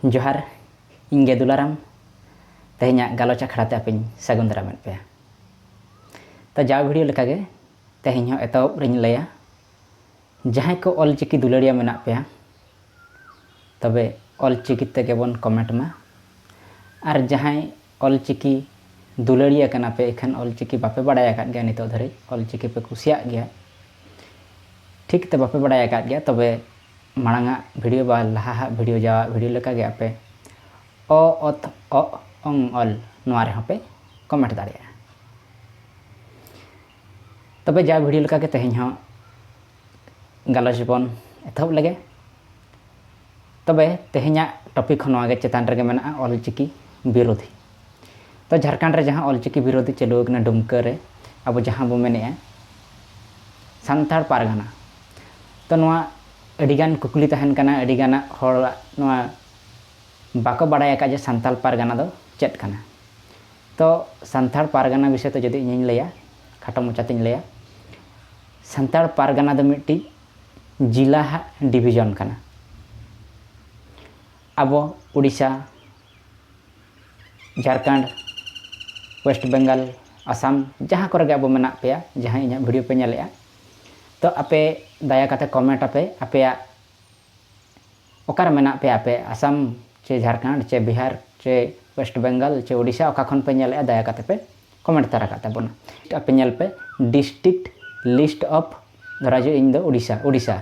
ᱡᱚᱦᱟᱨ ᱤᱧ ᱜᱮ ᱫᱩᱞᱟᱨᱟᱢ ᱛᱮᱦᱮᱧᱟᱜ ᱜᱟᱞᱚᱪ ᱟᱠᱷᱲᱟ ᱛᱮ ᱟᱯᱮᱧ ᱥᱟᱹᱜᱩᱱ ᱫᱟᱨᱟᱢᱮᱫ ᱯᱮᱭᱟ ᱛᱚ ᱡᱟᱣ ᱵᱷᱤᱰᱤᱭᱳ ᱞᱮᱠᱟᱜᱮ ᱛᱮᱦᱮᱧ ᱦᱚᱸ ᱮᱛᱚᱦᱚᱵ ᱨᱮᱧ ᱞᱟᱹᱭᱟ ᱡᱟᱦᱟᱸᱭ ᱠᱚ ᱚᱞ ᱪᱤᱠᱤ ᱫᱩᱞᱟᱹᱲᱤᱭᱟᱹ ᱢᱮᱱᱟᱜ ᱯᱮᱭᱟ ᱛᱚᱵᱮ ᱚᱞ ᱪᱤᱠᱤ ᱛᱮᱜᱮ ᱵᱚᱱ ᱠᱚᱢᱮᱱᱴ ᱢᱟ ᱟᱨ ᱡᱟᱦᱟᱸᱭ ᱚᱞ ᱪᱤᱠᱤ ᱫᱩᱞᱟᱹᱲᱤᱭᱟᱹ ᱠᱟᱱᱟ ᱯᱮ ᱤᱠᱷᱟᱹᱱ ᱚᱞ ᱪᱤᱠᱤ ᱵᱟᱯᱮ ᱵᱟᱰᱟᱭ ᱟᱠᱟᱫ ᱜᱮᱭᱟ ᱱᱤᱛᱚᱜ ᱫᱷᱟᱹᱨᱤᱡ ᱚᱞ ᱪᱤᱠᱤ ᱯᱮ ᱠᱩᱥᱤᱭᱟᱜ ᱜᱮᱭᱟ ᱴᱷᱤᱠ ᱛᱮ ᱵᱟᱯᱮ ᱵᱟᱰᱟᱭ ᱟᱠᱟᱫ ᱜᱮᱭᱟ ᱛᱚᱵᱮ ᱢᱟᱲᱟᱝ ᱟᱜ ᱵᱷᱤᱰᱤᱭᱳ ᱵᱟ ᱞᱟᱦᱟ ᱟᱜ ᱵᱷᱤᱰᱤᱭᱳ ᱡᱟᱣᱟᱜ ᱵᱷᱤᱰᱤᱭᱳ ᱞᱮᱠᱟ ᱜᱮ ᱟᱯᱮ ᱚ ᱚᱛ ᱚᱜ ᱚᱝ ᱚᱞ ᱱᱚᱣᱟ ᱨᱮᱦᱚᱸ ᱯᱮ ᱠᱚᱢᱮᱱᱴ ᱫᱟᱲᱮᱭᱟᱜᱼᱟ ᱛᱚᱵᱮ ᱡᱟᱣ ᱵᱷᱤᱰᱤᱭᱳ ᱞᱮᱠᱟ ᱜᱮ ᱛᱮᱦᱮᱧ ᱦᱚᱸ ᱜᱟᱞᱚᱪ ᱵᱚᱱ ᱮᱛᱚᱦᱚᱵ ᱞᱮᱜᱮ ᱛᱚᱵᱮ ᱛᱮᱦᱮᱧᱟᱜ ᱴᱚᱯᱤᱠ ᱦᱚᱸ ᱱᱚᱣᱟ ᱜᱮ ᱪᱮᱛᱟᱱ ᱨᱮᱜᱮ ᱢᱮᱱᱟᱜᱼᱟ ᱚᱞᱪᱤᱠᱤ ᱵᱤᱨᱳᱫᱷᱤ ᱛᱚ ᱡᱷᱟᱲᱠᱷᱚᱸᱰ ᱨᱮ ᱡᱟᱦᱟᱸ ᱚᱞᱪᱤᱠᱤ ᱵᱤᱨᱳᱫᱷᱤ ᱪᱟᱹᱞᱩ ᱟᱠᱟᱱᱟ ᱰᱩᱢᱠᱟᱹ ᱨᱮ ᱟᱵᱚ ᱡᱟᱦᱟᱸ ᱵᱚ ᱢᱮᱱᱮᱜᱼᱟ ᱥᱟᱱᱛᱟᱲ ᱯᱟᱨᱜᱟᱱᱟ ᱛᱚ ᱱᱚᱣᱟ ᱟᱹᱰᱤᱜᱟᱱ ᱠᱩᱠᱞᱤ ᱛᱟᱦᱮᱱ ᱠᱟᱱᱟ ᱟᱹᱰᱤᱜᱟᱱᱟᱜ ᱦᱚᱲᱟᱜ ᱱᱚᱣᱟ ᱵᱟᱠᱚ ᱵᱟᱲᱟᱭ ᱟᱠᱟᱫ ᱡᱮ ᱥᱟᱱᱛᱟᱲ ᱯᱟᱨᱜᱟᱱᱟ ᱫᱚ ᱪᱮᱫ ᱠᱟᱱᱟ ᱛᱚ ᱥᱟᱱᱛᱟᱲ ᱯᱟᱨᱜᱟᱱᱟ ᱵᱤᱥᱚᱭ ᱛᱮ ᱡᱩᱫᱤ ᱤᱧᱤᱧ ᱞᱟᱹᱭᱟ ᱠᱷᱟᱴᱚ ᱢᱚᱪᱟᱛᱤᱧ ᱞᱟᱹᱭᱟ ᱥᱟᱱᱛᱟᱲ ᱯᱟᱨᱜᱟᱱᱟ ᱫᱚ ᱢᱤᱫᱴᱤᱡ ᱡᱤᱞᱟ ᱦᱟᱜ ᱰᱤᱵᱷᱤᱡᱚᱱ ᱠᱟᱱᱟ ᱟᱵᱚ ᱳᱰᱤᱥᱟ ᱡᱷᱟᱲᱠᱷᱚᱸᱰ ᱳᱭᱮᱥᱴ ᱵᱮᱝᱜᱚᱞ ᱟᱥᱟᱢ ᱡᱟᱦᱟᱸ ᱠᱚᱨᱮ ᱜᱮ ᱟᱵᱚ ᱢᱮᱱᱟᱜ ᱯᱮᱭᱟ ᱡᱟᱦᱟᱸᱭ ᱤᱧᱟᱹᱜ ᱵᱷᱤᱰᱤᱭᱳ ᱯᱮ ᱧᱮᱞᱮᱜᱼᱟ ᱛᱚ ᱟᱯᱮ ᱫᱟᱭᱟ ᱠᱟᱛᱮ ᱠᱚᱢᱮᱱᱴ ᱟᱯᱮ ᱟᱯᱮᱭᱟᱜ ᱚᱠᱟᱨᱮ ᱢᱮᱱᱟᱜ ᱯᱮᱭᱟ ᱟᱯᱮ ᱟᱥᱟᱢ ᱪᱮ ᱡᱷᱟᱲᱠᱷᱚᱸᱰ ᱪᱮ ᱵᱤᱦᱟᱨ ᱪᱮ ᱳᱭᱮᱥᱴ ᱵᱮᱝᱜᱚᱞ ᱪᱮ ᱳᱰᱤᱥᱟ ᱚᱠᱟ ᱠᱷᱚᱱ ᱯᱮ ᱧᱮᱞᱮᱜᱼᱟ ᱫᱟᱭᱟ ᱠᱟᱛᱮ ᱯᱮ ᱠᱚᱢᱮᱱᱴ ᱛᱟᱨᱟ ᱠᱟᱜ ᱛᱟᱵᱚᱱᱟ ᱟᱯᱮ ᱧᱮᱞ ᱯᱮ ᱰᱤᱥᱴᱨᱤᱠᱴ ᱞᱤᱥᱴ ᱚᱯᱷ ᱫᱷᱚᱨᱟ ᱡᱮ ᱤᱧ ᱫᱚ ᱳᱰᱤᱥᱟ ᱳᱰᱤᱥᱟ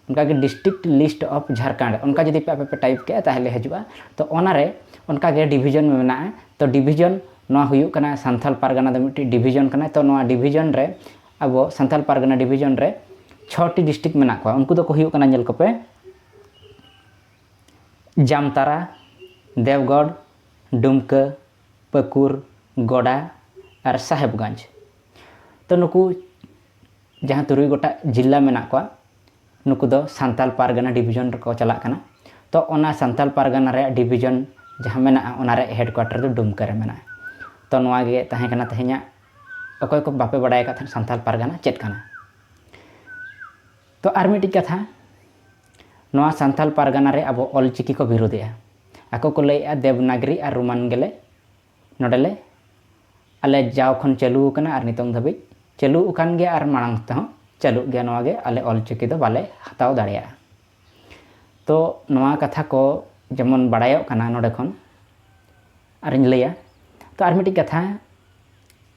ᱚᱱᱠᱟ ᱜᱮ ᱰᱤᱥᱴᱨᱤᱠᱴ ᱞᱤᱥᱴ ᱚᱯᱷ ᱡᱷᱟᱲᱠᱷᱚᱸᱰ ᱚᱱᱠᱟ ᱡᱩᱫᱤ ᱯᱮ ᱟᱯᱮ ᱯᱮ ᱴᱟᱭᱤᱯ ᱠᱮᱜᱼᱟ ᱛᱟᱦᱚᱞᱮ ᱦᱤᱡᱩᱜᱼᱟ ᱛᱚ ᱚᱱᱟ ᱨᱮ ᱚᱱᱠᱟ ᱜᱮ ᱰᱤᱵᱷᱤᱡᱚᱱ ᱢᱮᱱᱟᱜᱼᱟ ᱛᱚ ᱰᱤᱵᱷᱤᱡᱚᱱ ᱱᱚᱣᱟ ᱦᱩᱭᱩᱜ ᱠᱟᱱᱟ ᱥᱟᱱᱛᱷᱟᱞ ᱯᱟᱨᱜᱟᱱᱟ ᱫᱚ ᱢᱤᱫᱴᱤᱡ ᱰᱤᱵᱷᱤᱡᱚᱱ ᱠᱟᱱᱟ ᱛᱚ ᱱᱚᱣᱟ ᱰᱤᱵᱷᱤᱡᱚᱱ ᱨᱮ ᱟᱵᱚ ᱥᱟᱱᱛᱷᱟᱞ ᱯᱟᱨᱜᱟᱱᱟ ᱰᱤᱵᱷᱤᱡᱚᱱ ᱨᱮ ᱪᱷᱚᱴᱤ ᱰᱤᱥᱴᱨᱤᱠᱴ ᱢᱮᱱᱟᱜ ᱠᱚᱣᱟ ᱩᱱᱠᱩ ᱫᱚᱠᱚ ᱦᱩᱭᱩᱜ ᱠᱟᱱᱟ ᱧᱮᱞ ᱠᱚᱯᱮ ᱡᱟᱢᱛᱟᱨᱟ ᱫᱮᱣᱜᱚᱲ ᱰᱩᱢᱠᱟᱹ ᱯᱟᱹᱠᱩᱨ, ᱜᱚᱰᱟ ᱟᱨ ᱥᱟᱦᱮᱵᱽᱜᱚᱸᱡᱽ᱾ ᱛᱚ ᱱᱩᱠᱩ ᱡᱟᱦᱟᱸ ᱛᱩᱨᱩᱭ ᱜᱚᱴᱟᱜ ᱡᱤᱞᱞᱟ ᱢᱮᱱᱟᱜ ᱠᱚᱣᱟ ᱱᱩᱠᱩ ᱫᱚ ᱥᱟᱱᱛᱟᱞ ᱯᱟᱨᱜᱟᱱᱟ ᱰᱤᱵᱷᱤᱡᱚᱱ ᱨᱮᱠᱚ ᱪᱟᱞᱟᱜ ᱠᱟᱱᱟ᱾ ᱛᱚ ᱚᱱᱟ ᱥᱟᱱᱛᱟᱞ ᱯᱟᱨᱜᱟᱱᱟ ᱨᱮᱭᱟᱜ ᱰᱤᱵᱷᱤᱡᱚᱱ ᱡᱟᱦᱟᱸ ᱢᱮᱱᱟᱜᱼᱟ ᱚᱱᱟ ᱨᱮᱭᱟᱜ ᱦᱮᱰᱠᱩᱣᱟᱴᱚᱨ ᱫᱚ ᱰᱩᱢᱠᱟᱹ ᱨᱮ ᱢᱮᱱᱟᱜᱼᱟ᱾ ᱛᱚ ᱱᱚᱣᱟ ᱜᱮ ᱛᱟᱦᱮᱸ ᱠᱟᱱᱟ ᱛᱮᱦᱮᱧᱟᱜ ᱚᱠᱚᱭ ᱠᱚ ᱵᱟᱯᱮ ᱵᱟᱰᱟᱭ ᱟᱠᱟᱫ ᱛᱟᱦᱮᱸᱫ ᱥᱟᱱᱛᱟᱞ ᱯᱟᱨᱜᱟᱱᱟ ᱪᱮᱫ ᱠᱟᱱᱟ᱾ ᱛᱚ ᱟᱨ ᱢᱤᱫᱴᱤᱡ ᱠᱟᱛᱷᱟ᱾ ᱱᱚᱣᱟ ᱥᱟᱱᱛᱷᱟᱞ ᱯᱟᱨᱜᱟᱱᱟ ᱨᱮ ᱟᱵᱚ ᱚᱞ ᱪᱤᱠᱤ ᱠᱚ ᱵᱤᱨᱩᱫᱮᱜᱼᱟ ᱟᱠᱚ ᱠᱚ ᱞᱟᱹᱭᱮᱜᱼᱟ ᱫᱮᱵᱽᱱᱟᱜᱽᱨᱤ ᱟᱨ ᱨᱳᱢᱟᱱ ᱜᱮᱞᱮ ᱱᱚᱰᱮ ᱞᱮ ᱟᱞᱮ ᱡᱟᱣ ᱠᱷᱚᱱ ᱪᱟᱹᱞᱩ ᱟᱠᱟᱱᱟ ᱟᱨ ᱱᱤᱛᱚᱝ ᱫᱷᱟᱹᱵᱤᱡ ᱪᱟᱹᱞᱩ ᱟᱠᱟᱱ ᱜᱮᱭᱟ ᱟᱨ ᱢᱟᱲᱟᱝ ᱛᱮᱦᱚᱸ ᱪᱟᱹᱞᱩᱜ ᱜᱮᱭᱟ ᱱᱚᱣᱟ ᱜᱮ ᱟᱞᱮ ᱚᱞ ᱪᱤᱠᱤ ᱫᱚ ᱵᱟᱞᱮ ᱦᱟᱛᱟᱣ ᱫᱟᱲᱮᱭᱟᱜᱼᱟ ᱛᱚ ᱱᱚᱣᱟ ᱠᱟᱛᱷᱟ ᱠᱚ ᱡᱮᱢᱚᱱ ᱵᱟᱲᱟᱭᱚᱜ ᱠᱟᱱᱟ ᱱᱚᱰᱮ ᱠᱷᱚᱱ ᱟᱨᱤᱧ ᱞᱟᱹᱭᱟ ᱛᱚ ᱟᱨ ᱢᱤᱫᱴᱤᱡ ᱠᱟᱛᱷᱟ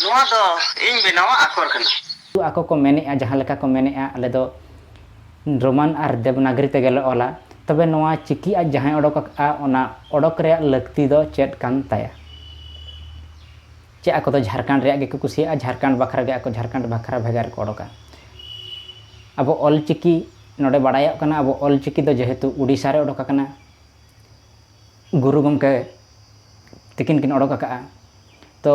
ᱱᱚᱣᱟ ᱫᱚ ᱤᱧ ᱵᱮᱱᱟᱣᱟᱜ ᱟᱠᱷᱚᱨ ᱠᱟᱱᱟ᱾ ᱠᱤᱱᱛᱩ ᱟᱠᱚ ᱠᱚ ᱢᱮᱱᱮᱫᱼᱟ ᱡᱟᱦᱟᱸ ᱞᱮᱠᱟ ᱠᱚ ᱢᱮᱱᱮᱫᱼᱟ ᱟᱞᱮ ᱫᱚ ᱨᱳᱢᱟᱱ ᱟᱨ ᱫᱮᱵᱽᱱᱟᱜᱽᱨᱤ ᱛᱮᱜᱮ ᱞᱮ ᱚᱞᱟ᱾ ᱛᱚᱵᱮ ᱱᱚᱣᱟ ᱪᱤᱠᱤ ᱟᱡ ᱡᱟᱦᱟᱸᱭ ᱚᱰᱚᱠ ᱟᱠᱟᱫᱼᱟ ᱚᱱᱟ ᱚᱰᱚᱠ ᱨᱮᱭᱟᱜ ᱞᱟᱹᱠᱛᱤ ᱫᱚ ᱪᱮᱫ ᱠᱟᱱ ᱛᱟᱭᱟ? ᱪᱮᱫ ᱟᱠᱚ ᱫᱚ ᱡᱷᱟᱨᱠᱷᱟᱸᱰ ᱨᱮᱭᱟᱜ ᱜᱮᱠᱚ ᱠᱩᱥᱤᱭᱟᱜᱼᱟ? ᱡᱷᱟᱨᱠᱷᱟᱸᱰ ᱵᱟᱠᱷᱨᱟ ᱜᱮ ᱟᱠᱚ ᱡᱷᱟᱨᱠᱷᱟᱸᱰ ᱵᱟᱠᱷᱨᱟ ᱵᱷᱮᱜᱟᱨ ᱠᱚ ᱚᱰᱚᱠᱟ᱾ ᱟᱵᱚ ᱚᱞ ᱪᱤᱠᱤ ᱱᱚᱰᱮ ᱵᱟᱰᱟᱭᱚᱜ ᱠᱟᱱᱟ ᱟᱵᱚ ᱚᱞ ᱪᱤᱠᱤ ᱫᱚ ᱡᱮᱦᱮᱛᱩ ᱳᱰᱤᱥᱟ ᱨᱮ ᱚᱰᱚᱠ ᱟᱠᱟᱱᱟ᱾ ᱜᱩᱨᱩ ᱜᱚᱢᱠᱮ ᱛᱤᱠᱤᱱ ᱠᱤᱱ ᱚᱰᱚᱠ ᱟᱠᱟᱫᱼᱟ ᱛᱚ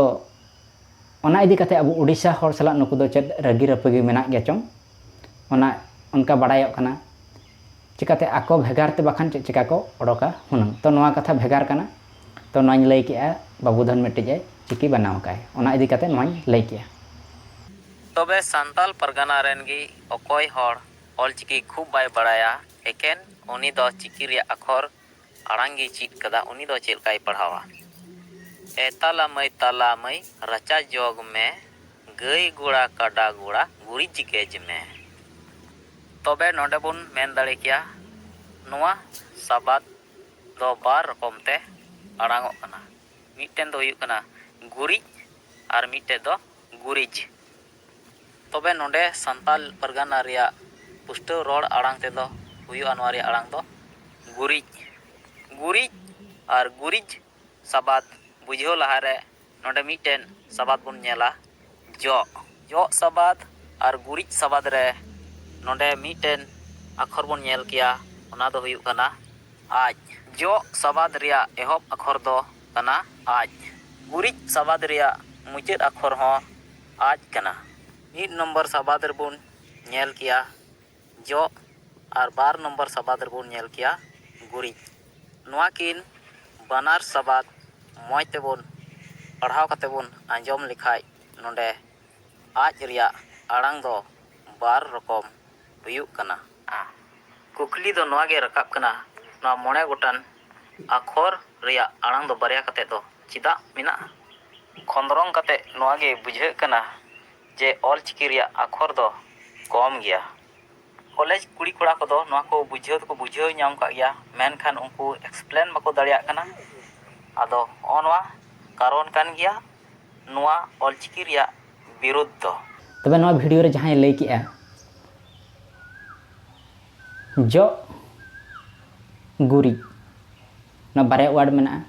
ᱚᱱᱟ ᱤᱫᱤ ᱠᱟᱛᱮ ᱟᱵᱚ ᱳᱰᱤᱥᱟ ᱦᱚᱲ ᱥᱟᱞᱟᱜ ᱱᱩᱠᱩ ᱫᱚ ᱪᱮᱫ ᱨᱟᱹᱜᱤ ᱨᱟᱹᱯᱟᱹᱜᱤ ᱢᱮᱱᱟᱜ ᱜᱮᱭᱟ ᱪᱚᱝ ᱚᱱᱟ ᱚᱱᱠᱟ ᱵᱟᱲᱟᱭᱚᱜ ᱠᱟᱱᱟ ᱪᱤᱠᱟᱹᱛᱮ ᱟᱠᱚ ᱵᱷᱮᱜᱟᱨ ᱛᱮ ᱵᱟᱠᱷᱟᱱ ᱪᱮᱫ ᱪᱤᱠᱟᱹ ᱠᱚ ᱚᱰᱚᱠᱟ ᱦᱩᱱᱟᱹᱝ ᱛᱚ ᱱᱚᱣᱟ ᱠᱟᱛᱷᱟ ᱵᱷᱮᱜᱟᱨ ᱠᱟᱱᱟ ᱛᱚ ᱱᱚᱣᱟᱧ ᱞᱟᱹᱭ ᱠᱮᱜᱼᱟ ᱵᱟᱹᱵᱩ ᱫᱷᱚᱱ ᱢᱤᱫᱴᱤᱡ ᱮ ᱪᱤᱠᱤ ᱵᱮᱱᱟᱣ ᱟᱠᱟᱫᱼᱟᱭ ᱚᱱᱟ ᱤᱫᱤ ᱠᱟᱛᱮ ᱱᱚᱣᱟᱧ ᱞᱟᱹᱭ ᱠᱮᱜᱼᱟ ᱛᱚᱵᱮ ᱥᱟᱱᱛᱟᱞ ᱯᱟᱨᱜᱟᱱᱟ ᱨᱮᱱ ᱜᱮ ᱚᱠᱚᱭ ᱦᱚᱲ ᱚᱞᱪᱤᱠᱤ ᱠᱷᱩᱵ ᱵᱟᱭ ᱵᱟᱲᱟᱭᱟ ᱮᱠᱮᱱ ᱩᱱᱤ ᱫᱚ ᱪᱤᱠᱤ ᱨᱮᱭᱟᱜ ᱟᱠᱷᱚᱨ ᱟᱲᱟᱝ ᱜᱮᱭ ᱪᱤᱫ ᱠᱟᱫᱟ ᱩᱱᱤ ᱫᱚ ᱪᱮᱫ ᱞᱮᱠᱟᱭ ᱯᱟᱲᱦᱟᱣᱟ? ᱮ ᱛᱟᱞᱟ ᱢᱟᱹᱭ ᱛᱟᱞᱟ ᱢᱟᱹᱭ ᱨᱟᱪᱟ ᱡᱚᱜᱽ ᱢᱮ ᱜᱟᱹᱭ ᱜᱚᱲᱟ ᱠᱟᱰᱟ ᱜᱚᱲᱟ ᱜᱩᱨᱤᱡ ᱜᱮᱡᱽ ᱢᱮ᱾ ᱛᱚᱵᱮ ᱱᱚᱰᱮ ᱵᱚᱱ ᱢᱮᱱ ᱫᱟᱲᱮ ᱠᱮᱭᱟ ᱱᱚᱣᱟ ᱥᱟᱵᱟᱫᱽ ᱫᱚ ᱵᱟᱨ ᱨᱚᱠᱚᱢ ᱛᱮ ᱟᱲᱟᱝᱚᱜ ᱠᱟᱱᱟ᱾ ᱢᱤᱫᱴᱮᱱ ᱫᱚ ᱦᱩᱭᱩᱜ ᱠᱟᱱᱟ ᱜᱩᱨᱤᱡ ᱟᱨ ᱢᱤᱫᱴᱮᱱ ᱫᱚ ᱜᱩᱨᱤᱡᱽ᱾ ᱛᱚᱵᱮ ᱱᱚᱸᱰᱮ ᱥᱟᱱᱛᱟᱞ ᱯᱟᱨᱜᱟᱱᱟ ᱨᱮᱭᱟᱜ ᱯᱩᱥᱴᱟᱹᱣ ᱨᱚᱲ ᱟᱲᱟᱝ ᱛᱮ ᱫᱚ ᱦᱩᱭᱩᱜᱼᱟ ᱱᱚᱣᱟ ᱨᱮᱭᱟᱜ ᱟᱲᱟᱝ ᱫᱚ ᱜᱩᱨᱤᱡ, ᱜᱩᱨᱤᱡ ᱟᱨ ᱜᱩᱨᱤᱡ ᱥᱟᱵᱟᱫᱽ ᱵᱩᱡᱷᱟᱹᱣ ᱞᱟᱦᱟ ᱨᱮ ᱱᱚᱸᱰᱮ ᱢᱤᱫ ᱴᱮᱱ ᱥᱟᱵᱟᱫᱽ ᱵᱚᱱ ᱧᱮᱞᱟ ᱡᱚᱜ᱾ ᱡᱚᱜ ᱥᱟᱵᱟᱫᱽ ᱟᱨ ᱜᱩᱨᱤᱡ ᱥᱟᱵᱟᱫᱽ ᱨᱮ ᱱᱚᱸᱰᱮ ᱢᱤᱫ ᱴᱮᱱ ᱟᱠᱷᱚᱨ ᱵᱚᱱ ᱧᱮᱞ ᱠᱮᱭᱟ ᱚᱱᱟ ᱫᱚ ᱦᱩᱭᱩᱜ ᱠᱟᱱᱟ ᱟᱡ᱾ ᱡᱚᱜ ᱥᱟᱵᱟᱫᱽ ᱨᱮᱭᱟᱜ ᱮᱦᱚᱵ ᱟᱠᱷᱚᱨ ᱫᱚ ᱠᱟᱱᱟ ᱟᱡ᱾ ᱜᱩᱨᱤᱡ ᱥᱟᱵᱟᱫᱽ ᱨᱮᱭᱟᱜ ᱢᱩᱪᱟᱹᱫ ᱟᱠᱷᱚᱨ ᱦᱚᱸ᱾ ᱟᱡ ᱠᱟᱱᱟ᱾ ᱢᱤᱫ ᱱᱚᱢᱵᱚᱨ ᱥᱟᱵᱟᱫᱽ ᱨᱮᱵᱚᱱ ᱧᱮᱞ ᱠᱮᱭᱟ ᱡᱚᱜ ᱟᱨ ᱵᱟᱨ ᱱᱚᱢᱵᱚᱨ ᱥᱟᱵᱟᱫᱽ ᱨᱮᱵᱚᱱ ᱧᱮᱞ ᱠᱮᱭᱟ ᱜᱩᱨᱤᱡ᱾ ᱱᱚᱣᱟ ᱠᱤᱱ ᱵᱟᱱᱟᱨ ᱥᱟᱵᱟᱫᱽ ᱢᱚᱡᱽ ᱛᱮᱵᱚᱱ ᱯᱟᱲᱦᱟᱣ ᱠᱟᱛᱮ ᱵᱚᱱ ᱟᱸᱡᱚᱢ ᱞᱮᱠᱷᱟᱡ ᱱᱚᱰᱮ ᱟᱡ ᱨᱮᱭᱟᱜ ᱟᱲᱟᱝ ᱫᱚ ᱵᱟᱨ ᱨᱚᱠᱚᱢ ᱦᱩᱭᱩᱜ ᱠᱟᱱᱟ᱾ ᱠᱩᱠᱞᱤ ᱫᱚ ᱱᱚᱣᱟ ᱜᱮ ᱨᱟᱠᱟᱵ ᱠᱟᱱᱟ ᱱᱚᱣᱟ ᱢᱚᱬᱮ ᱜᱚᱴᱟᱱ ᱟᱠᱷᱚᱨ ᱨᱮᱭᱟᱜ ᱟᱲᱟᱝ ᱫᱚ ᱵᱟᱨᱭᱟ ᱠᱟᱛᱮ ᱫᱚ ᱪᱮᱫᱟᱜ ᱢᱮᱱᱟᱜᱼᱟ? ᱠᱷᱚᱸᱫᱽᱨᱚᱝ ᱠᱟᱛᱮ ᱱᱚᱣᱟ ᱜᱮ ᱵᱩᱡᱷᱟᱹᱜ ᱠᱟᱱᱟ ᱡᱮ ᱚᱞ ᱪᱤᱠᱤ ᱨᱮᱭᱟᱜ ᱟᱠᱷᱚᱨ ᱫᱚ ᱠᱚᱢ ᱜᱮᱭᱟ᱾ ᱠᱚᱞᱮᱡᱽ ᱠᱩᱲᱤ ᱠᱚᱲᱟ ᱠᱚᱫᱚ ᱱᱚᱣᱟ ᱠᱚ ᱵᱩᱡᱷᱟᱹᱣ ᱫᱚᱠᱚ ᱵᱩᱡᱷᱟᱹᱣ ᱧᱟᱢ ᱠᱟᱜ ᱜᱮᱭᱟ ᱢᱮᱱᱠᱷᱟᱱ ᱩᱱᱠᱩ ᱮᱠᱥᱯᱞᱮᱱ ᱵᱟᱠᱚ ᱫᱟᱲᱮᱭᱟᱜ ᱠᱟᱱᱟ᱾ ᱟᱫᱚ ᱦᱚᱸᱜᱼᱚ ᱱᱚᱣᱟ ᱠᱟᱨᱚᱱ ᱠᱟᱱ ᱜᱮᱭᱟ ᱱᱚᱣᱟ ᱚᱞᱪᱤᱠᱤ ᱨᱮᱭᱟᱜ ᱵᱤᱨᱩᱫᱷ ᱫᱚ᱾ ᱛᱚᱵᱮ ᱱᱚᱣᱟ ᱵᱷᱤᱰᱤᱭᱳ ᱨᱮ ᱡᱟᱦᱟᱸᱭ ᱞᱟᱹᱭ ᱠᱮᱫᱼᱟ ᱡᱚᱜ ᱜᱩᱨᱤᱡ ᱱᱚᱣᱟ ᱵᱟᱨᱭᱟ ᱳᱣᱟᱨᱰ ᱢᱮᱱᱟᱜᱼᱟ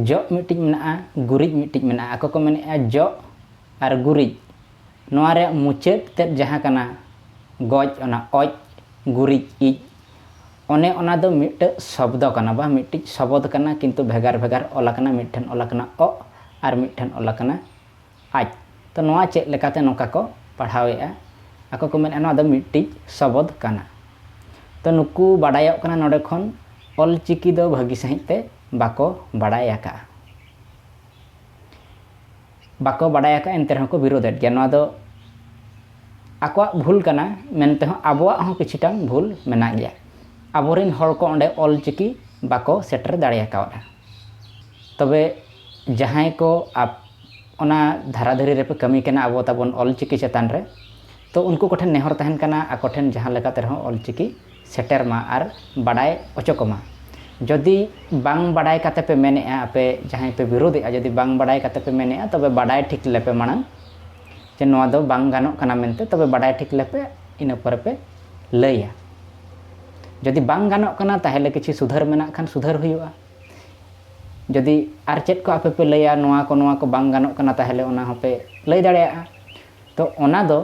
ᱡᱚᱜ ᱢᱤᱫᱴᱤᱡ ᱢᱮᱱᱟᱜᱼᱟ ᱜᱩᱨᱤᱡ ᱢᱤᱫᱴᱤᱡ ᱢᱮᱱᱟᱜᱼᱟ ᱟᱠᱚ ᱠᱚ ᱢᱮᱱᱮᱫᱼᱟ ᱡᱚᱜ ᱟᱨ ᱜᱩᱨᱤᱡ ᱱᱚᱣᱟ ᱨᱮᱭᱟᱜ ᱢᱩᱪᱟᱹᱫ ᱛᱮᱫ ᱡᱟᱦᱟᱸ ᱠᱟᱱᱟ ᱜᱚᱡ ᱚᱱᱟ ᱚᱡ ᱜᱩᱨᱤᱡ ᱤᱡ ᱚᱱᱮ ᱚᱱᱟ ᱫᱚ ᱢᱤᱫᱴᱟᱹᱜ ᱥᱚᱵᱽᱫᱚ ᱠᱟᱱᱟ ᱵᱟ ᱢᱤᱫᱴᱤᱡ ᱥᱚᱵᱚᱫᱽ ᱠᱟᱱᱟ ᱠᱤᱱᱛᱩ ᱵᱷᱮᱜᱟᱨ ᱵᱷᱮᱜᱟᱨ ᱚᱞ ᱟᱠᱟᱱᱟ ᱢᱤᱫ ᱴᱷᱮᱱ ᱚᱞ ᱟᱠᱟᱱᱟ ᱚᱜ ᱟᱨ ᱢᱤᱫ ᱴᱷᱮᱱ ᱚᱞ ᱟᱠᱟᱱᱟ ᱟᱡ ᱛᱚ ᱱᱚᱣᱟ ᱪᱮᱫ ᱞᱮᱠᱟᱛᱮ ᱱᱚᱝᱠᱟ ᱠᱚ ᱯᱟᱲᱦᱟᱣᱮᱜᱼᱟ ᱟᱠᱚ ᱠᱚ ᱢᱮᱱᱮᱜᱼᱟ ᱱᱚᱣᱟ ᱫᱚ ᱢᱤᱫᱴᱤᱡ ᱥᱚᱵᱚᱫᱽ ᱠᱟᱱᱟ ᱛᱚ ᱱᱩᱠᱩ ᱵᱟᱰᱟᱭᱚᱜ ᱠᱟᱱᱟ ᱱᱚᱰᱮ ᱠᱷᱚᱱ ᱚᱞ ᱪᱤᱠᱤ ᱫᱚ ᱵᱷᱟᱹᱜᱤ ᱥᱟᱺᱦᱤᱡ ᱛᱮ ᱵᱟᱠᱚ ᱵᱟᱲᱟᱭ ᱟᱠᱟᱜᱼᱟ ᱵᱟᱠᱚ ᱵᱟᱰᱟᱭ ᱟᱠᱟᱫ ᱮᱱᱛᱮ ᱨᱮᱦᱚᱸ ᱠᱚ ᱵᱤᱨᱳᱫᱮᱫ ᱜᱮᱭᱟ ᱱᱚᱣᱟ ᱫᱚ ᱟᱠᱚᱣᱟᱜ ᱵᱷᱩᱞ ᱠᱟᱱᱟ ᱢᱮᱱᱛᱮ ᱦᱚᱸ ᱟᱵᱚᱣᱟᱜ ᱦᱚᱸ ᱠᱤᱪᱷᱩᱴᱟᱝ ᱵᱷᱩᱞ ᱢᱮᱱᱟᱜ ᱜᱮᱭᱟ ᱟᱵᱚᱨᱮᱱ ᱦᱚᱲ ᱠᱚ ᱚᱸᱰᱮ ᱚᱞ ᱪᱤᱠᱤ ᱵᱟᱠᱚ ᱥᱮᱴᱮᱨ ᱫᱟᱲᱮ ᱟᱠᱟᱣᱟᱫᱼᱟ ᱛᱚᱵᱮ ᱡᱟᱦᱟᱸᱭ ᱠᱚ ᱚᱱᱟ ᱫᱷᱟᱨᱟ ᱫᱷᱟᱨᱮ ᱨᱮᱯᱮ ᱠᱟᱹᱢᱤ ᱠᱟᱱᱟ ᱟᱵᱚ ᱛᱟᱵᱚᱱ ᱚᱞ ᱪᱤᱠᱤ ᱪᱮᱛᱟᱱ ᱨᱮ ᱛᱚ ᱩᱱᱠᱩ ᱠᱚᱴᱷᱮᱱ ᱱᱮᱦᱚᱨ ᱛᱟᱦᱮᱱ ᱠᱟᱱᱟ ᱟᱠᱚ ᱴᱷᱮᱱ ᱡᱟᱦᱟᱸ ᱞᱮᱠᱟᱛᱮ ᱨᱮᱦᱚᱸ ᱚᱞ ᱪᱤᱠᱤ ᱥᱮᱴᱮᱨ ᱢᱟ ᱟᱨ ᱵᱟᱰᱟᱭ ᱚᱪᱚ ᱠᱚᱢᱟ᱾ ᱡᱚᱫᱤ ᱵᱟᱝ ᱵᱟᱰᱟᱭ ᱠᱟᱛᱮ ᱯᱮ ᱢᱮᱱ ᱮᱫᱼᱟ ᱟᱯᱮ ᱡᱟᱦᱟᱸᱭ ᱯᱮ ᱵᱤᱨᱩᱫᱷ ᱮᱫᱼᱟ ᱡᱚᱫᱤ ᱵᱟᱝ ᱵᱟᱰᱟᱭ ᱠᱟᱛᱮ ᱯᱮ ᱢᱮᱱ ᱮᱫᱼᱟ ᱛᱚᱵᱮ ᱵᱟᱰᱟᱭ ᱴᱷᱤᱠ ᱞᱮᱯᱮ ᱢᱟᱲᱟᱝ ᱡᱮ ᱱᱚᱣᱟ ᱫᱚ ᱵᱟᱝ ᱜᱟᱱᱚᱜ ᱠᱟᱱᱟ ᱢᱮᱱᱛᱮ ᱛᱚᱵᱮ ᱵᱟᱰᱟᱭ ᱴᱷᱤᱠ ᱞᱮᱯᱮ ᱤᱱᱟᱹ ᱯᱚᱨᱮ ᱯᱮ ᱞᱟᱹᱭᱟ᱾ ᱡᱚᱫᱤ ᱵᱟᱝ ᱜᱟᱱᱚᱜ ᱠᱟᱱᱟ ᱛᱟᱦᱮᱞᱮ ᱠᱤᱪᱷᱤ ᱥᱩᱫᱷᱟᱹᱨ ᱢᱮᱱᱟᱜ ᱠᱷᱟᱱ ᱥᱩᱫᱷᱟᱹᱨ ᱦᱩᱭᱩᱜᱼᱟ᱾ ᱡᱚᱫᱤ ᱟᱨ ᱪᱮᱫ ᱠᱚ ᱟᱯᱮ ᱯᱮ ᱞᱟᱹᱭᱟ ᱱᱚᱣᱟ ᱠᱚ ᱱᱚᱣᱟ ᱠᱚ ᱵᱟᱝ ᱜᱟᱱᱚᱜ ᱠᱟᱱᱟ ᱛᱟᱦᱮᱞᱮ ᱚᱱᱟ ᱦᱚᱸ ᱯᱮ ᱞᱟᱹᱭ ᱫᱟᱲᱮᱭᱟᱜᱼᱟ᱾ ᱛᱚ ᱚᱱᱟ ᱫᱚ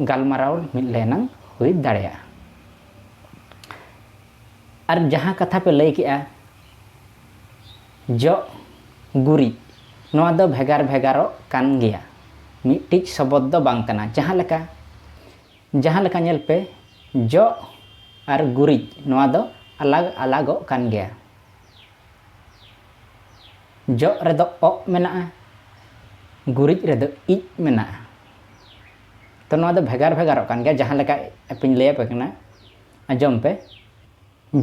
ᱜᱟᱞᱢᱟᱨᱟᱣ ᱢᱤᱫ ᱞᱮᱱᱟᱝ ᱦᱩᱭ ᱫᱟᱲᱮᱭᱟᱜᱼᱟ ᱟᱨ ᱡᱟᱦᱟᱸ ᱠᱟᱛᱷᱟ ᱯᱮ ᱞᱟᱹᱭ ᱠᱮᱜᱼᱟ ᱡᱚᱜ ᱜᱩᱨᱤᱡ ᱱᱚᱣᱟ ᱫᱚ ᱵᱷᱮᱜᱟᱨ ᱵᱷᱮᱜᱟᱨᱚᱜ ᱠᱟᱱ ᱜᱮᱭᱟ ᱢᱤᱫᱴᱤᱡ ᱥᱚᱵᱚᱫ ᱫᱚ ᱵᱟᱝ ᱠᱟᱱᱟ ᱡᱟᱦᱟᱸ ᱞᱮᱠᱟ ᱡᱟᱦᱟᱸ ᱞᱮᱠᱟ ᱧᱮᱞ ᱯᱮ ᱡᱚᱜ ᱟᱨ ᱜᱩᱨᱤᱡ ᱱᱚᱣᱟ ᱫᱚ ᱟᱞᱟᱜᱽ ᱟᱞᱟᱜᱚᱜ ᱠᱟᱱ ᱜᱮᱭᱟ ᱡᱚᱜ ᱨᱮᱫᱚ ᱚᱜ ᱢᱮᱱᱟᱜᱼᱟ ᱜᱩᱨᱤᱡ ᱨᱮᱫᱚ ᱤᱡ ᱢᱮᱱᱟᱜᱼᱟ ᱛᱚ ᱱᱚᱣᱟ ᱫᱚ ᱵᱷᱮᱜᱟᱨ ᱵᱷᱮᱜᱟᱨᱚᱜ ᱠᱟᱱ ᱜᱮᱭᱟ ᱡᱟᱦᱟᱸ ᱞᱮᱠᱟ ᱟᱯᱮᱧ ᱞᱟᱹᱭ ᱟᱯᱮ ᱠᱟᱱᱟ ᱟᱸᱡᱚᱢ ᱯᱮ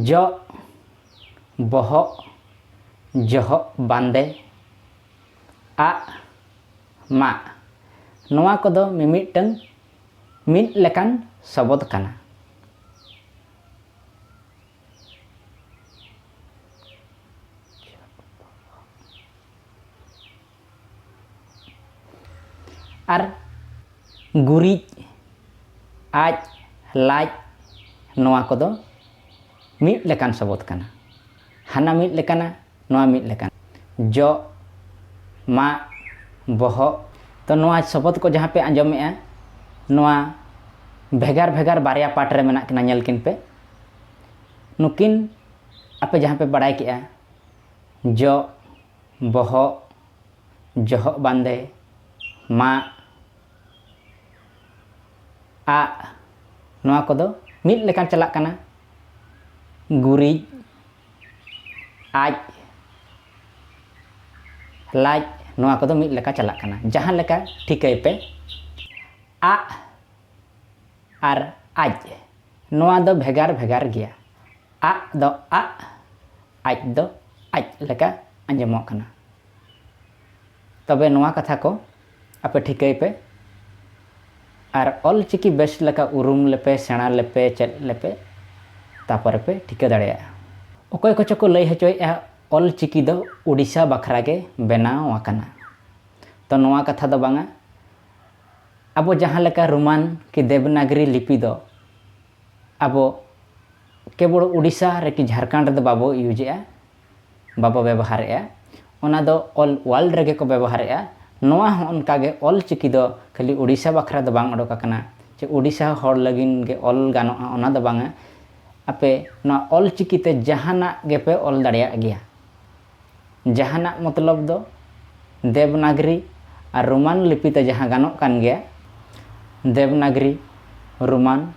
ᱡᱚᱜ ᱵᱚᱦᱚᱜ ᱡᱚᱦᱚᱜ ᱵᱟᱸᱫᱮ ᱟᱜ ᱢᱟᱜ ᱱᱚᱣᱟ ᱠᱚᱫᱚ ᱢᱤᱢᱤᱫᱴᱟᱝ ᱢᱤᱫ ᱞᱮᱠᱟᱱ ᱥᱚᱵᱚᱫ ᱠᱟᱱᱟ ᱟᱨ ᱜᱩᱨᱤᱡ ᱟᱡ ᱞᱟᱡ ᱱᱚᱣᱟ ᱠᱚᱫᱚ ᱢᱤᱫ ᱞᱮᱠᱟᱱ ᱥᱚᱵᱚᱫ ᱠᱟᱱᱟ ᱦᱟᱱᱟ ᱢᱤᱫ ᱞᱮᱠᱟᱱᱟ ᱱᱚᱣᱟ ᱢᱤᱫ ᱞᱮᱠᱟᱱᱟ ᱡᱚᱜ ᱢᱟᱜ ᱵᱚᱦᱚᱜ ᱛᱚ ᱱᱚᱣᱟ ᱥᱚᱵᱚᱫ ᱠᱚ ᱡᱟᱦᱟᱸ ᱯᱮ ᱟᱸᱡᱚᱢᱮᱜᱼᱟ ᱱᱚᱣᱟ ᱵᱷᱮᱜᱟᱨ ᱵᱷᱮᱜᱟᱨ ᱵᱟᱨᱭᱟ ᱯᱟᱴ ᱨᱮ ᱢᱮᱱᱟᱜ ᱠᱤᱱᱟ ᱧᱮᱞ ᱠᱤᱱ ᱯᱮ ᱱᱩᱠᱤᱱ ᱟᱯᱮ ᱡᱟᱦᱟᱸ ᱯᱮ ᱵᱟᱲᱟᱭ ᱠᱮᱜᱼᱟ ᱡᱚᱜ ᱵᱚᱦᱚᱜ ᱡᱚᱦᱚᱜ ᱵᱟᱸᱫᱮ ᱢᱟᱜ ᱟᱜ ᱱᱚᱣᱟ ᱠᱚᱫᱚ ᱢᱤᱫ ᱞᱮᱠᱟᱱ ᱪᱟᱞᱟᱜ ᱠᱟᱱᱟ ᱜᱩᱨᱤᱡ ᱟᱡ ᱞᱟᱡ ᱱᱚᱣᱟ ᱠᱚᱫᱚ ᱢᱤᱫ ᱞᱮᱠᱟ ᱪᱟᱞᱟᱜ ᱠᱟᱱᱟ ᱡᱟᱦᱟᱸ ᱞᱮᱠᱟ ᱴᱷᱤᱠᱟᱹᱭ ᱯᱮ ᱟᱜ ᱟᱨ ᱟᱡ ᱱᱚᱣᱟ ᱫᱚ ᱵᱷᱮᱜᱟᱨ ᱵᱷᱮᱜᱟᱨ ᱜᱮᱭᱟ᱾ ᱟᱜ ᱫᱚ ᱟᱜ, ᱟᱡ ᱫᱚ ᱟᱡ ᱞᱮᱠᱟ ᱟᱸᱡᱚᱢᱚᱜ ᱠᱟᱱᱟ᱾ ᱛᱚᱵᱮ ᱱᱚᱣᱟ ᱠᱟᱛᱷᱟ ᱠᱚ ᱟᱯᱮ ᱴᱷᱤᱠᱟᱹᱭ ᱯᱮ ᱟᱨ ᱚᱞ ᱪᱤᱠᱤ ᱵᱮᱥ ᱞᱮᱠᱟ ᱩᱨᱩᱢ ᱞᱮᱯᱮ, ᱥᱮᱬᱟ ᱞᱮᱯᱮ, ᱪᱮᱫ ᱞᱮᱯᱮ ᱛᱟᱯᱚᱨᱮ ᱯᱮ ᱴᱷᱤᱠᱟᱹ ᱫᱟᱲᱮᱭᱟᱜᱼᱟ᱾ ᱚᱠᱚᱭ ᱠᱚᱪᱚ ᱠᱚ ᱞᱟᱹᱭ ᱦᱚᱪᱚᱭᱮᱫᱼᱟ ᱚᱞ ᱪᱤᱠᱤ ᱫᱚ ᱳᱰᱤᱥᱟ ᱵᱟᱠᱷᱨᱟ ᱜᱮ ᱵᱮᱱᱟᱣ ᱟᱠᱟᱱᱟ᱾ ᱛᱚ ᱱᱚᱣᱟ ᱠᱟᱛᱷᱟ ᱫᱚ ᱵᱟᱝᱟ᱾ ᱟᱵᱚ ᱡᱟᱦᱟᱸ ᱞᱮᱠᱟ ᱨᱳᱢᱟᱱ ᱠᱤ ᱫᱮᱵᱽᱱᱟᱜᱽᱨᱤ ᱞᱤᱯᱤ ᱫᱚ ᱟᱵᱚ ᱠᱮᱵᱚᱲ ᱳᱰᱤᱥᱟ ᱨᱮ ᱠᱤ ᱡᱷᱟᱨᱠᱷᱟᱸᱰ ᱨᱮᱫᱚ ᱵᱟᱵᱚ ᱤᱭᱩᱡᱮᱜᱼᱟ ᱵᱟᱵᱚ ᱵᱮᱵᱚᱦᱟᱨᱮᱜᱼᱟ ᱚᱱᱟ ᱫᱚ ᱚᱞ ᱳᱣᱟᱞᱰ ᱨᱮᱜᱮ ᱠᱚ ᱵᱮᱵᱚᱦᱟᱨᱮᱜᱼᱟ ᱱᱚᱣᱟ ᱦᱚᱸ ᱚᱱᱠᱟ ᱜᱮ ᱚᱞ ᱪᱤᱠᱤ ᱫᱚ ᱠᱷᱟᱹᱞᱤ ᱳᱰᱤᱥᱟ ᱵᱟᱠᱷᱨᱟ ᱫᱚ ᱵᱟᱝ ᱚᱰᱚᱠ ᱟᱠᱟᱱᱟ ᱪᱮ ᱳᱰᱤᱥᱟ ᱦᱚᱲ ᱞᱟᱹᱜᱤᱫ ᱜᱮ ᱚᱞ ᱜᱟᱱᱚᱜᱼᱟ ᱚᱱᱟ ᱫᱚ ᱵᱟᱝᱟ ᱟᱯᱮ ᱱᱚᱣᱟ ᱚᱞ ᱪᱤᱠᱤ ᱛᱮ ᱡᱟᱦᱟᱱᱟᱜ ᱜᱮᱯᱮ ᱚᱞ ᱫᱟᱲᱮᱭᱟᱜ ᱜᱮᱭᱟ ᱡᱟᱦᱟᱱᱟᱜ ᱢᱚᱛᱞᱚᱵ ᱫᱚ ᱫᱮᱵᱽᱱᱟᱜᱽᱨᱤ ᱟᱨ ᱨᱳᱢᱟᱱ ᱞᱤᱯᱤ ᱛᱮ ᱡᱟᱦᱟᱸ ᱜᱟᱱᱚᱜ ᱠᱟᱱ ᱜᱮᱭᱟ, ᱫᱮᱵᱽᱱᱟᱜᱽᱨᱤ, ᱨᱳᱢᱟᱱ,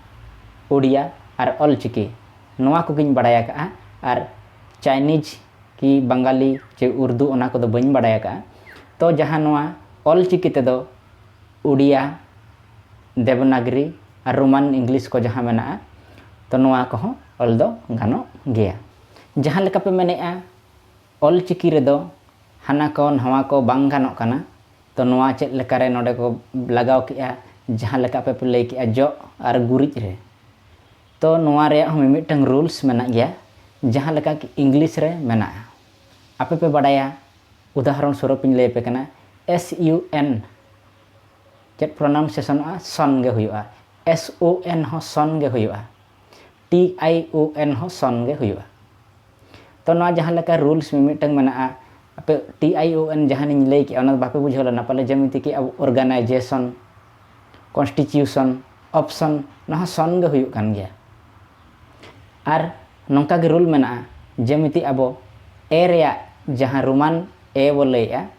ᱳᱰᱤᱭᱟ ᱟᱨ ᱚᱞᱪᱤᱠᱤ, ᱱᱚᱣᱟ ᱠᱚᱜᱮᱧ ᱵᱟᱰᱟᱭ ᱟᱠᱟᱫᱼᱟ ᱟᱨ ᱪᱟᱭᱱᱤᱡᱽ ᱠᱤ ᱵᱟᱝᱜᱟᱞᱤ ᱪᱮ ᱩᱨᱫᱩ ᱚᱱᱟ ᱠᱚᱫᱚ ᱵᱟᱹᱧ ᱵᱟᱰᱟᱭ ᱟᱠᱟᱫᱼᱟ᱾ ᱛᱚ ᱡᱟᱦᱟᱸ ᱱᱚᱣᱟ ᱚᱞᱪᱤᱠᱤ ᱛᱮᱫᱚ ᱳᱰᱤᱭᱟ, ᱫᱮᱵᱽᱱᱟᱜᱽᱨᱤ ᱟᱨ ᱨᱳᱢᱟᱱ ᱤᱝᱞᱤᱥ ᱠᱚ ᱡᱟᱦᱟᱸ ᱢᱮᱱᱟᱜᱼᱟ, ᱛᱚ ᱱᱚᱣᱟ ᱠᱚᱦᱚᱸ ᱚᱞ ᱫᱚ ᱜᱟᱱᱚᱜ ᱜᱮᱭᱟ᱾ ᱡᱟᱦᱟᱸ ᱞᱮᱠᱟ ᱯᱮ ᱢᱮᱱᱮᱜᱼᱟ ᱚᱞ ᱪᱤᱠᱤ ᱨᱮᱫᱚ ᱦᱟᱱᱟ ᱠᱚ ᱱᱷᱟᱣᱟ ᱠᱚ ᱵᱟᱝ ᱜᱟᱱᱚᱜ ᱠᱟᱱᱟ ᱛᱚ ᱱᱚᱣᱟ ᱪᱮᱫ ᱞᱮᱠᱟ ᱨᱮ ᱱᱚᱰᱮ ᱠᱚ ᱞᱟᱜᱟᱣ ᱠᱮᱜᱼᱟ ᱡᱟᱦᱟᱸ ᱞᱮᱠᱟ ᱟᱯᱮ ᱯᱮ ᱞᱟᱹᱭ ᱠᱮᱜᱼᱟ ᱡᱚᱜ ᱟᱨ ᱜᱩᱨᱤᱡ ᱨᱮ ᱛᱚ ᱱᱚᱣᱟ ᱨᱮᱭᱟᱜ ᱦᱚᱸ ᱢᱤᱢᱤᱫᱴᱟᱝ ᱨᱩᱞᱥ ᱢᱮᱱᱟᱜ ᱜᱮᱭᱟ ᱡᱟᱦᱟᱸ ᱞᱮᱠᱟ ᱠᱤ ᱤᱝᱞᱤᱥ ᱨᱮ ᱢᱮᱱᱟᱜᱼᱟ ᱟᱯᱮ ᱯᱮ ᱵᱟᱰᱟᱭᱟ ᱩᱫᱟᱦᱚᱨᱚᱱ ᱥᱚᱨᱩᱯ ᱤᱧ ᱞᱟᱹᱭ ᱟᱯᱮ ᱠᱟᱱᱟ ᱮᱥ ᱤᱭᱩ ᱮᱱ ᱪᱮᱫ ᱯᱨᱚᱱᱟᱣᱩᱱᱥᱮᱥᱚᱱᱚᱜᱼᱟ ᱥᱚᱱ ᱜᱮ ᱦᱩᱭᱩᱜᱼᱟ ᱮᱥ ᱳ ᱮᱱ ᱦᱚᱸ ᱥᱚᱱ ᱜᱮ ᱦᱩᱭᱩᱜᱼᱟ ᱴᱤ ᱟᱭ ᱳ ᱮᱱ ᱦᱚᱸ ᱥᱚᱱ ᱜᱮ ᱦᱩᱭᱩᱜᱼᱟ ᱛᱚ ᱱᱚᱣᱟ ᱡᱟᱦᱟᱸ ᱞᱮᱠᱟ ᱨᱩᱞᱥ ᱢᱤᱢᱤᱫᱴᱟᱝ ᱢᱮᱱᱟᱜᱼᱟ ᱟᱯᱮ ᱴᱤ ᱟᱭ ᱳ ᱮᱱ ᱡᱟᱦᱟᱸᱞᱤᱧ ᱞᱟᱹᱭ ᱠᱮᱜᱼᱟ ᱚᱱᱟ ᱵᱟᱯᱮ ᱵᱩᱡᱷᱟᱹᱣ ᱞᱮᱱᱟ ᱯᱟᱞᱮ ᱡᱮᱢᱤᱛᱤ ᱠᱤ ᱟᱵᱚ ᱚᱨᱜᱟᱱᱟᱭᱡᱮᱥᱚᱱ ᱠᱚᱱᱥᱴᱤᱴᱤᱭᱩᱥᱚᱱ ᱚᱯᱥᱚᱱ ᱱᱚᱣᱟ ᱦᱚᱸ ᱥᱚᱱ ᱜᱮ ᱦᱩᱭᱩᱜ ᱠᱟᱱ ᱜᱮᱭᱟ ᱟᱨ ᱱᱚᱝᱠᱟ ᱜᱮ ᱨᱩᱞ ᱢᱮᱱᱟᱜᱼᱟ ᱡᱮᱢᱤᱛᱤ ᱟᱵᱚ ᱮ ᱨᱮᱭᱟᱜ ᱡᱟᱦᱟᱸ ᱨᱳᱢᱟᱱ ᱮ ᱵᱚ ᱞᱟᱹᱭᱮᱜᱼᱟ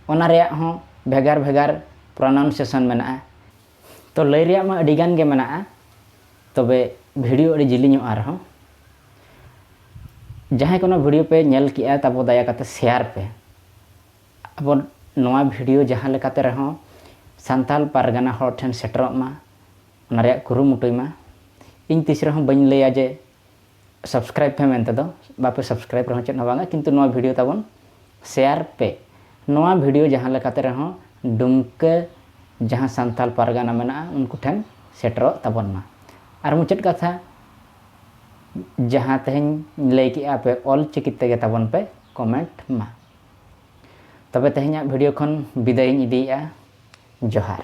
ᱚᱱᱟ ᱨᱮᱭᱟᱜ ᱦᱚᱸ ᱵᱷᱮᱜᱟᱨ ᱵᱷᱮᱜᱟᱨ ᱯᱨᱚᱱᱟᱣᱩᱱᱥᱮᱥᱚᱱ ᱢᱮᱱᱟᱜᱼᱟ ᱛᱚ ᱞᱟᱹᱭ ᱨᱮᱭᱟᱜ ᱢᱟ ᱟᱹᱰᱤ ᱜᱟᱱ ᱜᱮ ᱢᱮᱱᱟᱜᱼᱟ ᱛᱚᱵᱮ ᱵᱷᱤᱰᱤᱭᱳ ᱟᱹᱰᱤ ᱡᱤᱞᱤᱧᱚᱜᱼᱟ ᱟᱨᱦᱚᱸ ᱡᱟᱦᱟᱸᱭ ᱠᱚ ᱱᱚᱣᱟ ᱵᱷᱤᱰᱤᱭᱳ ᱯᱮ ᱧᱮᱞ ᱠᱮᱜᱼᱟ ᱛᱟᱵᱚ ᱫᱟᱭᱟ ᱠᱟᱛᱮ ᱥᱮᱭᱟᱨ ᱯᱮ ᱟᱵᱚ ᱱᱚᱣᱟ ᱵᱷᱤᱰᱤᱭᱳ ᱡᱟᱦᱟᱸ ᱞᱮᱠᱟᱛᱮ ᱨᱮᱦᱚᱸ ᱥᱟᱱᱛᱟᱲ ᱯᱟᱨᱜᱟᱱᱟ ᱦᱚᱲ ᱴᱷᱮᱱ ᱥᱮᱴᱮᱨᱚᱜ ᱢᱟ ᱚᱱᱟ ᱨᱮᱭᱟᱜ ᱠᱩᱨᱩᱢᱩᱴᱩᱭ ᱢᱟ ᱤᱧ ᱛᱤᱥ ᱨᱮᱦᱚᱸ ᱵᱟᱹᱧ ᱞᱟᱹᱭᱟ ᱡᱮ ᱥᱟᱵᱥᱠᱨᱟᱭᱤᱵ ᱯᱮ ᱢᱮᱱᱛᱮ ᱫᱚ ᱵᱟᱯᱮ ᱥᱟᱵᱥᱠᱨᱟᱭᱤᱵ ᱨᱮᱦᱚᱸ ᱪᱮᱫ ᱦᱚᱸ ᱵᱟᱝᱟ ᱠᱤᱱᱛᱩ ᱱᱚᱣᱟ ᱵᱷᱤᱰᱤᱭᱳ ᱛᱟᱵᱚᱱ ᱥᱮᱭᱟᱨ ᱯᱮ ᱱᱚᱣᱟ ᱵᱷᱤᱰᱤᱭᱳ ᱡᱟᱦᱟᱸ ᱞᱮᱠᱟᱛᱮ ᱨᱮᱦᱚᱸ ᱰᱩᱢᱠᱟᱹ ᱡᱟᱦᱟᱸ ᱥᱟᱱᱛᱟᱞ ᱯᱟᱨᱜᱟᱱᱟ ᱢᱮᱱᱟᱜᱼᱟ ᱩᱱᱠᱩ ᱴᱷᱮᱱ ᱥᱮᱴᱮᱨᱚᱜ ᱛᱟᱵᱚᱱ ᱢᱟ ᱟᱨ ᱢᱩᱪᱟᱹᱫ ᱠᱟᱛᱷᱟ ᱡᱟᱦᱟᱸ ᱛᱮᱦᱮᱧ ᱞᱟᱹᱭ ᱠᱮᱜᱼᱟ ᱯᱮ ᱚᱞ ᱪᱤᱠᱤ ᱛᱮᱜᱮ ᱛᱟᱵᱚᱱ ᱯᱮ ᱠᱚᱢᱮᱱᱴ ᱢᱟ ᱛᱚᱵᱮ ᱛᱮᱦᱮᱧᱟᱜ ᱵᱷᱤᱰᱤᱭᱳ ᱠᱷᱚᱱ ᱵᱤᱫᱟᱹᱭᱤᱧ ᱤᱫᱤᱭᱮᱜᱼᱟ ᱡᱚᱦᱟᱨ